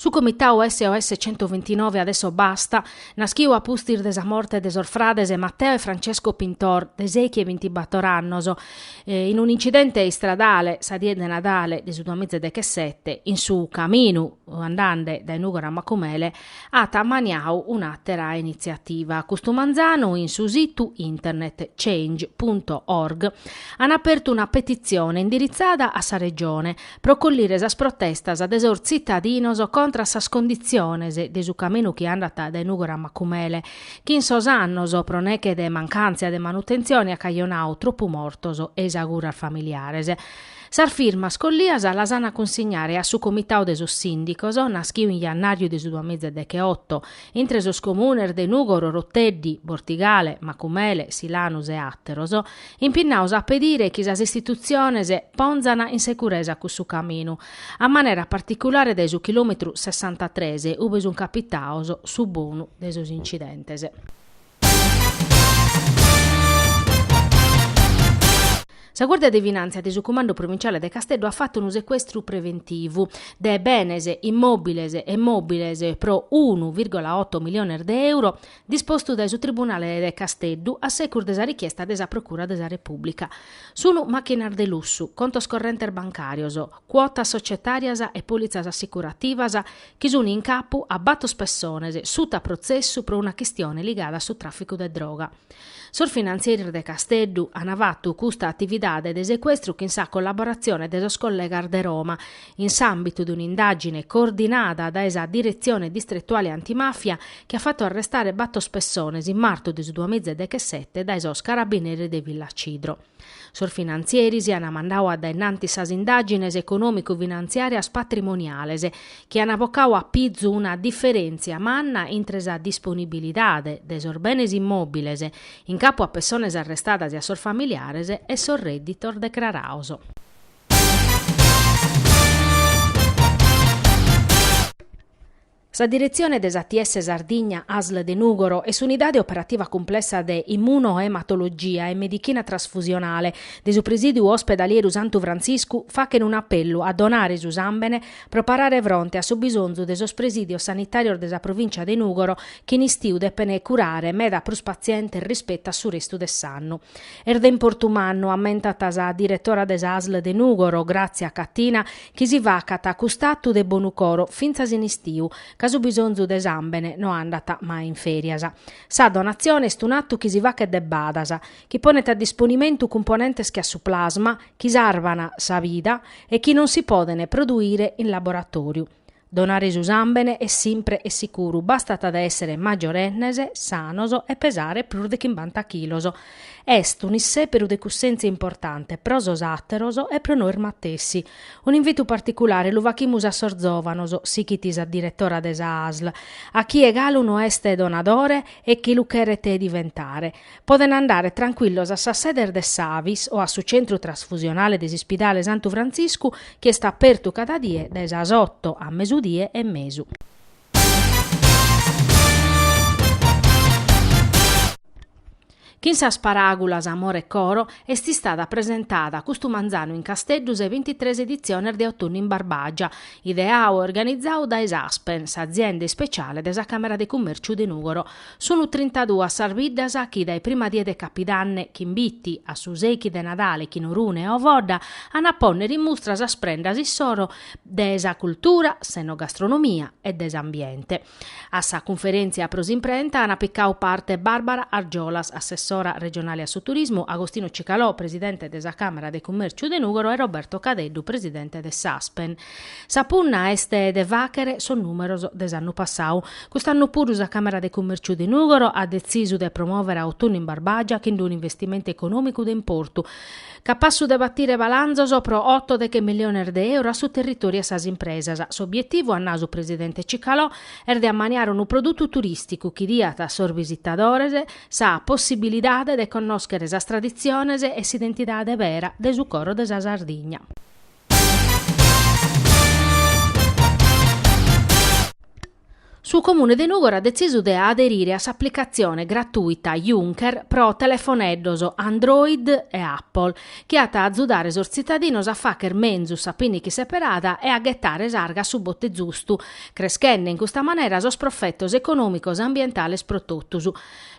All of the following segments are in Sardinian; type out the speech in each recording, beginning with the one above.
Su comitau SOS centoventinove adesso basta, naschiu a pustis de sa morte de sos frades Matteo e Francesco Pintor, de sèichi e bintibator annos, in un'incidente istradale sa die de Nadale de su duamiza e dechesete, in su caminu andande dae Nùgoro a Macumele, at ammaniau un'àtera initziativa. Custu manzanu in su situ internet Change punto org an apertu una petitzione indiritzada a sa Regione, pro collire sas protestas de sos tzitadinos contra a sas conditziones de su caminu chi andat dae Nùgoro a Macumele, chi in sos annos, pro neche de mancàntzia de manutentzione, at cajonau tropu mortos e isaguras familiares. Sas firmas collias las an a cunsignare a su Comitau de sos Sìndicos, naschiu in jannàriu de su duamiza e decheoto, intre sos comunes de Nùgoro, Oroteddi, Bortigale, Macumele, Silanus e àteros, impinnaos a pedire chi sas istitutziones pònzana in securesa cussu caminu, a manera particulare dae su chilòmetru sessantatres, ube sunt capitaos su bonu de sos incidentes. Sa Guàrdia de Finàntzia de su Cumandu Provinciale de Casteddu at fatu unu secuestru preventivu de benes immòbiles e mòbiles pro unu vìrgola oto miliones de euro dispostu dae su Tribunale de Casteddu a secus de sa richiesta de sa Procura de sa Repùblica. Sunt màchinas de lussu, contos correntes bancàrios, cuotas societàrias e pòlitzas assicurativas chi sunt in capu a batos pessones suta protzessu pro una chistione ligada a su tràficu de droga. Sos finantzieris de Casteddu ant fatu custa atividade de secuestru chin sa collaboratzione de sos collegas de Roma in s'àmbitu de un'indàgine coordinada dae sa Diretzione Distretuale Antimàfia chi at fatu arrestare batos pessones in martu de su duamiza e dechesete dae sos Carabineris de Villacidro. Sos finantzieris an mandau a dae innanti sas indàgines econòmicu-finantziàrias patrimoniales chi an bocau a pizu una diferèntzia manna intre sa disponibilidade de sos benes immòbiles in capu a pessones arrestadas e a sos familiares e sos rèdditos decrarados. Sa diretzione de s'ATS Sardigna ASSL de Nùgoro e s'unidade operativa cumplessa de Immunoematologia e Medichina Trasfusionale de su Presìdiu Ospedalieru Santu Frantziscu fachene un'apellu a donare su sàmbene pro parare fronte a su bisonzu de sos presìdios sanitàrios de sa provìncia de Nùgoro chi in istiu depene curare meda prus patzientes rispettu a su restu de s'annu. Est de importu mannu, ammentat sa diretora de sa asl de Nùgoro, Gràtzia Catina, chi si facat cust'atu de bonu coro fintzas in istiu, ca su bisonzu de sàmbene no andat mai in fèrias. Sa donatzione est un'atu chi si faghet de badas, chi ponent a disponimentu cumponentes che a su plasma, chi sarvan sa vida e chi non si podent produire in laboratòriu. Donare su sàmbene est simpre e sicuru, bastat èssere magiorennes, sanos e pesare prus de chimbanta chilos. Est un'issèberu de cussèntzia importante pro sos àteros e pro nois matessi. Un'invitu particulare lu faghimus a sos zòvanos, sighit sa diretora de sa ASL, a chie galu no est donadore e chi lu cheret diventare. Podent andare trancuillos a sas sedes de s'Avis o a su centru trasfusionale de s'ispidale Santu Frantziscu chi est apertu cada die dae sas oto a mesudie e mesu. Chin sas paràgulas amore e coro est istada presentada custu manzanu in Casteddu sa bintitres editziones de Otunnu in Barbàgia, ideadu e organizadu dae s'Aspen, s'azienda ispeciale de sa Càmera de Cummèrciu de Nùgoro. Sunu trintaduas sas biddas chi dae prima die de Capidanne, chin Bitzi, a su seichi de Nadale chin Orune e Ovodda, an a pònnere in mustra sas prendas issoro de sa cultura, s'enogastronomia e de s'ambiente. A sa cunferèntzia pro s'imprenta an picadu parte Barbara Argiolas, assessora regionale a su turismu, Agostino Cicalò, presidente de sa Càmera de Cummèrciu de Nùgoro e Roberto Cadeddu, presidente de s'Aspen. Sa punna est de fàghere sos nùmeros de s'annu passadu. Cust'annu puru sa Càmera de Cumèrciu de Nùgoro at detzisu de promòvere a Otunnu in Barbagia chin d'unu investimentu econòmicu de importu, capassu de batire balanzos pro oto deghe miliones de euro a su territòriu e a sas impresas. S'obietivu, at nadu su presidente Cicalò, est de ammaniare unu produtu turìsticu chi diat a sos bisitadores sa possibilidade de connòschere sas traditziones e s'identidade bera de su coro de sa Sardigna. Su Comune de Nùgoro at detzisu de aderire a s'aplicatzione gratuita Junker pro telefoneddos Android e Apple, chi at a azudare sos tzitadinos a fàghere menzus sa pìniche seperada e a ghetare s'arga a su bote zustu, creschende in custa manera sos profetos econòmicos e ambientales pro totus.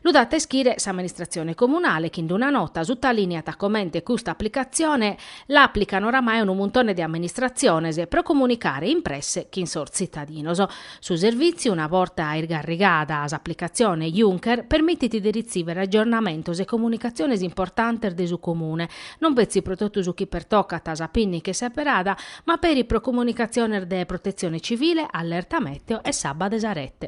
Lu dat a ischire s'amministratzione comunale chi in d'una nota sutalìniat comente custa aplicatzione l'àplican oramai unu muntone de amministratziones pro comunicare in presse chin sos tzitadinos. Su servìtziu, una borta isgarrigada s'aplicatzione Junker, permitit de ritzìvere agiornamentos e comunicatziones importantes de su Comune, non petzi pro totu su chi pertocat sa pìnniche seberada, ma peri pro comunicatziones de Protetzione Civile, Allerta Mèteo e s'abba de sa rete.